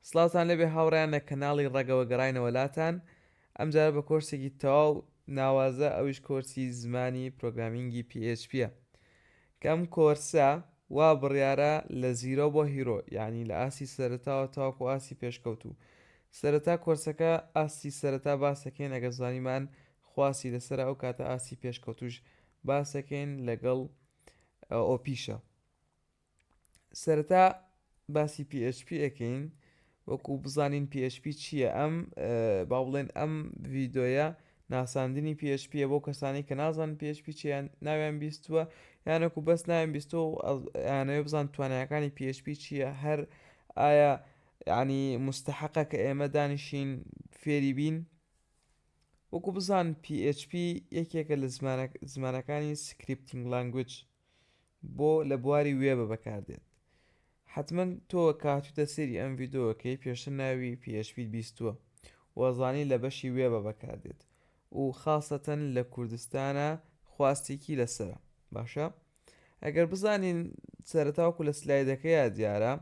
سڵاوتان لێبێ هاوڕێیان لە کەناڵی ڕەگەوە گەڕاینەوە لاتان ئەمجارە بە کۆرسێکی تەواو ناوازە ئەویش کۆرسی زمانی پرۆگرامینگی پی ئێچ پیە کە ئەم کۆرسە وا بڕیارە لە زیرۆ بۆ هیرۆ یانی لە ئاستی سەرەتاوە تاوەکو ئاستی پێشکەوتوو سەرەتا کۆرسەکە ئاستی سەرەتا باس دەکەین ئەگەر زانیمان خواستی لەسەرە ئەو کاتە ئاستی پێشکەوتووش باس دەکەین لەگەڵ ئۆپیشە. سەرەتا باسی PHP ئەکەین وەکو بزانین PHP چییە ئەم با بڵێن ئەم ڤیدۆیە ناساندنی PHP بۆ کەسانی کە نازان PHP چیان ناویان بیستووە یانەکو بەس ناویان بیستۆ یانەوە بزان توانایەکانی PHP چییە هەر ئایا ینی مستحقە کە ئێمە دانیشین فێری بین وەکو بزان PHP یەکێکە لە زمانەکانی سکرپتنگ لانگوج بۆ لە بواری وێبە بەکار دێت حەتمەن تۆ کە هاتوویتە سەیری ئەم ڤیدۆکەی پێشتر ناوی پی ئێچ پیت بیستووە و زانی لە بەشی وێبە بەکار دێت و خاسەتەن لە کوردستانا خواستێکی لەسەرە باشە ئەگەر بزانین سەرەتا وەکو لە سلایدەکەیا دیارە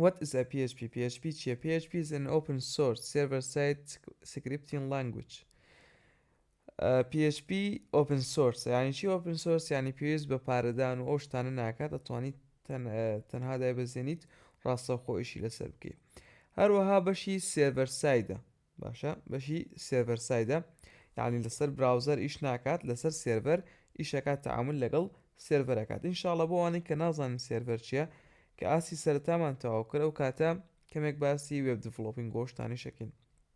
What is a PHP? PHP چیە؟ PHP is an open source server-side scripting language PHP ئۆپن سۆرسە یانی چی ئۆپن سۆرس یانی پێویست بە پارەدان و ئەو شتانە ناکات ئەتوانیت تەنها دایبەزێنیت ڕاستەوخۆئشی لەسەر بکەیت هەروەها بەشی سێڤەرسایدە باشە بەشی سێڤەرسایدە یعنی لەسەر براوزەر ئیش ناکات لەسەر سێرڤەر ئیشەکات تعامل لەگەڵ سێرڤەرەکات انشاءڵە بۆ ئەوانەی کە نازانن سێرڤەر چییە کە ئاسی سەرتامان تەواو کرد ئەو کاتە کەمێک باسی وێب دڤڵۆپین گۆشتانی شەکەین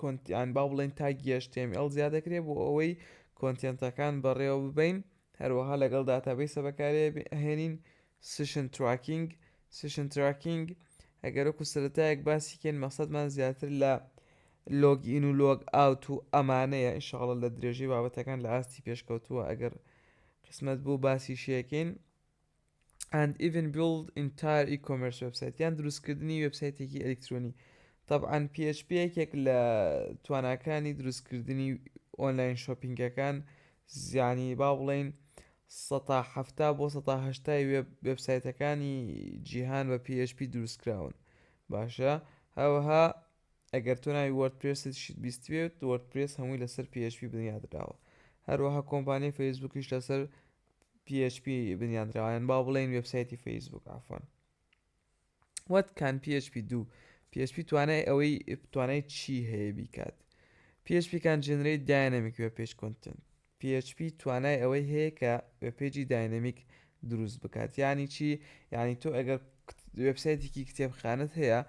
کۆنتیان با بڵێن تاگی HTML زیاد دەکرێت بۆ ئەوەی کۆنتێنتەکان بەڕێوە ببەین هەروەها لەگەڵ داتابیسە بەکارێ هێنین سیشن تراکینگ سیشن تراکینگ ئەگەرەکو سەرەتایەک باسیکەین مەسەدمان زیاتر لە لۆگ ئین و لۆگ ئاوت و ئەمانەیە ئیشاڵە لە درێژەی بابەتەکان لە ئاستی پێشکەوتووە ئەگەر قسمەت بوو باسی شەکەین and even build entire e-commerce website یان دروستکردنی وێبسایتێکی ئەلکترۆنی طبعاان PHP یەکێک لە تواناکانی دروستکردنی ئۆنلاین شۆپینگەکان زیانی با بڵین ١٧٠ بۆ ١٨٠ وێب وێبسایتەکانی جیهان بە PHP دروستکراون باشە هەوەها ئەگەر تۆ ناوی وەردپرێست شت بیستێت وەردپرێس هەمووی لەسەر PHP بنیادراوە هەروەها کۆمپانیای فەیسبوکیش لەسەر php بنیادراوە یان با بڵێین وێبسایتی فەیسبوک ئافۆن وەت کان php دوو php توانای ئەوەی توانای چی هەیە بیکات php کان جنری داینەمیک وێ پێش کۆنتن php توانای ئەوەی هەیە کە وێ پێجی داینەمیک دروست بکات یعنی چی یعنی تۆ ئەگەر وێبسایتێکی کتێبخانت هەیە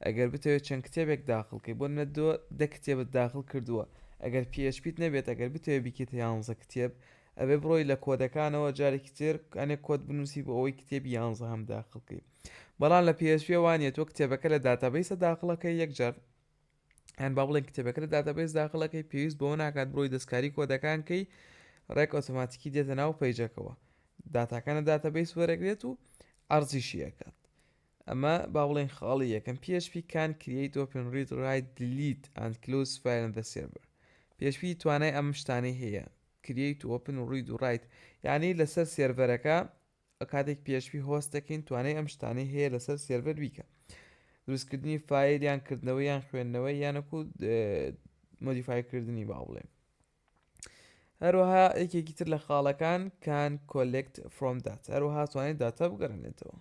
ئەگەر بتەوێت چەند کتێبێک داخڵکەی بۆ نە دۆ دە کتێبت داخل کردووە ئەگەر پێشپیت نەبێت ئەگەر بتەوێت بکێتە یانزە کتێب ئەبێ بڕۆی لە کۆدەکانەوە جارێکی تر ئەنێ کۆد بنووسی بۆ ئەوەی کتێبی یانزەهەم داخڵ کەی بەڵام لە PHP وا نیە تۆ کتێبەکە لە داتابەیسە داخڵەکەی یەکجار یان با بڵێن کتێبەکە لە داتابەیس داخڵەکەی پێویست بەوە ناکات بڕۆی دەستکاری کۆدەکان کەی ڕێک ئۆتۆماتیکی دێتە ناو پەیجەکەوە داتاکانە داتابەیس وەرەگرێت و ئەرزیشی ئەکات ئەمە با بڵێن خاڵی یەکەم PHP کان کریت ئۆپن ڕید ڕایت دلیت ئەند کلوز فایل دە سێرڤەر PHP توانای ئەم شتانەی هەیە کریەیت تو ئۆپن و ڕید و ڕایت یانی لەسەر سێرڤەرەکە کاتێک php هۆست دەکەین توانای ئەم شتانەی هەیە لەسەر سێرڤەر بیکە دروستکردنی فایل یان کردنەوە یان خوێندنەوە یانەکو مۆدیفای کردنی با بڵێن هەروەها یەکێکی تر لە خاڵەکان کان کۆلکت فرۆم دات هەروەها توانێت داتا بگەڕێنێتەوە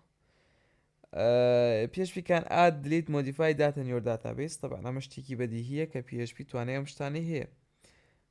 پێشپیکان ئاد دلیت مۆدیفای داتە نیۆر داتابیس طبعا ئەمە شتێکی بەدیهیە کە پێشپی توانێ ئەم شتانی هەیە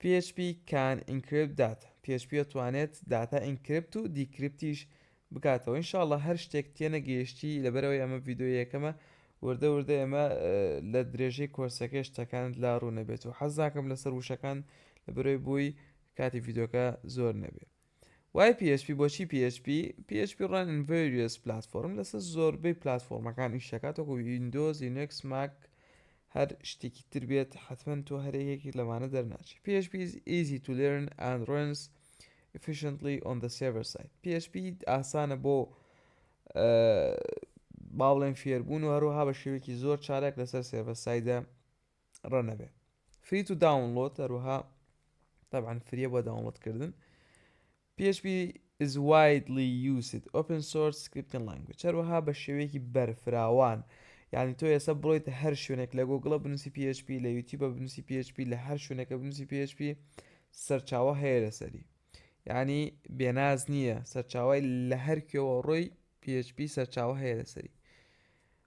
PHP can encrypt data PHP ئەتوانێت داتا ئینکریپت و دیکریپتیش بکاتەوە ان شاء اللە هەر شتێک تێنەگەیشتی لەبەرەوەی ئەمە ڤیدیۆ یەکەمە وردە وردە ئێمە لە درێژەی کۆرسەکەی شتەکانت لا ڕوونەبێت و حەز ناکەم لەسەر وشەکان لەبەرەوەی بووی کاتی ڤیدیۆکە زۆر نەبێت وای پی ئێچ پی بۆچی پی ئێچ پی؟ پی ئێچ پی ڕان ئین ڤەریەس پلاتفۆرم لەسەر زۆربەی پلاتفۆرمەکان ئیش دەکات وەکو ویندۆز لینەکس ماک هەر شتێکی تر بێت حەتمەن تۆ هەر یەکێکی لەمانە دەرناچی پی ئێچ پی ئیز ئیزی تو لێرن ئەند ڕۆنس ئیفیشنتلی ئۆن دە سێڤەر ساید پی ئێچ پی ئاسانە بۆ با بڵێن فێربوون و هەروەها بە شێوەیەکی زۆر چالاک لەسەر سێڤەر سایدە ڕە نەبێ فری تو داونڵۆد هەروەها تابان فریە بۆ داونڵۆد کردن PHP is widely used open source scripting language هەروەها بە شێوەیەکی بەرفراوان یعنی تۆ ئێستا بڵیت هەر شوێنێک لە گۆگڵە بنووسی PHP لە یوتیوب بە بنووسی PHP لە هەر شوێنەکە بنووسی PHP سەرچاوە هەیە لەسەری یعنی بێناز نییە سەرچاوای لە هەر کوێوە ڕۆی PHP سەرچاوە هەیە لەسەری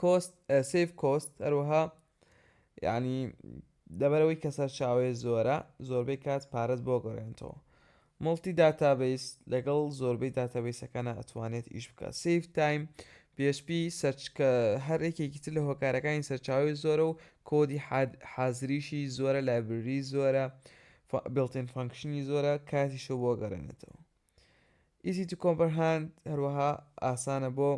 کۆست سیف کۆست هەروەها یعنی دەبەرەوەی کە سەرچاوەیە زۆرە زۆربەی کات پارەت بۆ گەڕێنتەوە مڵتی داتابیس لەگەڵ زۆربەی داتابیسەکانە ئەتوانێت ئیش بکە سیف تایم PHP سەرچکە هەر یەکێکی تر لە هۆکارەکانی سەرچاوی زۆرە و کۆدی حازریشی زۆرە لایبرری زۆرە بڵتین فانکشنی زۆرە کاتیشە بۆ گەڕێنێتەوە easy to comprehend هەروەها ئاسانە بۆ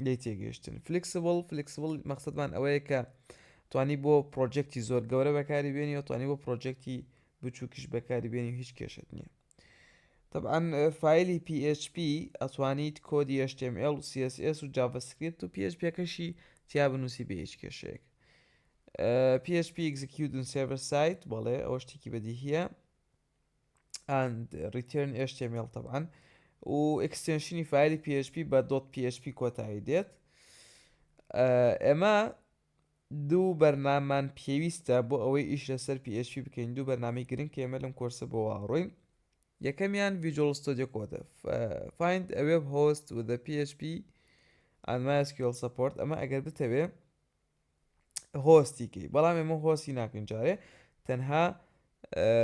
لی تێگەشتن فلیکسبڵ فلیکسبڵ مەخصدمان ئەوەیە کە توانی بۆ پرۆجێکتی زۆر گەورە بەکاری بێنی و توانی بۆ پرۆجێکتی بچووکیش بەکاری بێنی و هیچ کێشت نییە طبعا فیلی PHP ئەتوانیت کۆدی HTML و CSS و JavaScript و PHP کەشی تیا بنووسی بە هیچ کێشەیەک PHP execute سێڤەر سایت بەڵێ ئەوە شتێکی بەدیهە and return html طبعا و ئەکستێنشنی فایلی PHP بە دۆت PHP کۆتایی دێت ئێمە دوو بەرنامان پێویستە بۆ ئەوەی ئیش لەسەر PHP بکەین دوو بەرنامی گرنگ کێمە لەم کۆرسە بۆ واڕۆین یەکەمیان Visual Studio Code find a web host with the PHP and MySQL support ئەمە ئەگەر بتەوێ هۆستی کەی بەڵام ئێمە هۆسی ناکەین جارێ تەنها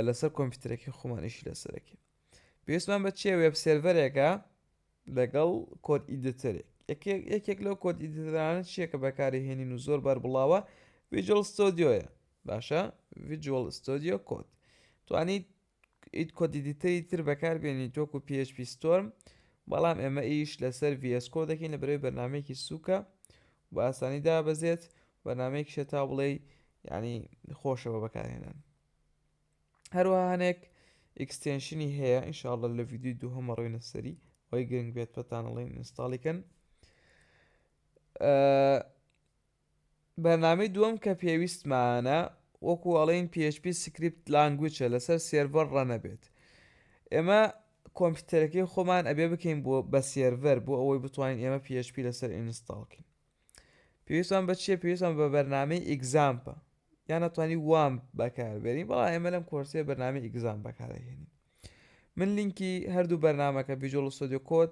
لەسەر کۆمپیوتەرەکەی خۆمانیشی لەسەرەکە پێویستمان بە چێ وێب سێرڤەرێکە لەگەڵ کۆت ئیدتەرێک یەکێک لەو کۆت ئیدتەرانە چیەکە بەکاری هێنین و زۆر بەر بڵاوە ویجل ستۆدیۆیە باشە ویجوال ستۆدیۆ کۆت توانیت ئیت کۆد ئیدیتەری تر بەکاربێنیت وەکو PHP Storm بەڵام ئێمە ئیش لەسەر VS Code دەکەین لە بەرەوەی بەرنمەیەکی سووکە بە ئاسانی دابەزێت بەرنمەیەکیشە تا بڵێ ینی خۆشە بە بەکارهێنان هەروەها هەنێک ئیکستێنشنی هەیە ئینشاءڵە لە ویددیوی دوو هەمە ڕووی نەسەری ئەوی گرنگ بێت پەتانەڵین ئینستاڵیکەن بەرنامەی دووەم کە پێویستمانە وەکو ئەڵێن php سکریپت لانگوچە لەسەر سێرڤەر ڕەنەبێت ئێمە کۆمپیوتەرەکەی خۆمان ئەبێ بکەین بۆ بە سێرڤەر بۆ ئەوەی بتوانین ئێمە php لەسەر ئینستاڵکەین پێویستمان بە چیە پێویستمان بە بەرنامەی ئیگزامپە یان ئەتوانی وام بەکاربێنی بەڵا ئێمە لەم کۆرسێ بەرنامی ئیگزام بەکارهێنین من لینکی هەردوو بەرنمەکە ڤژۆڵ سۆدیۆ کۆت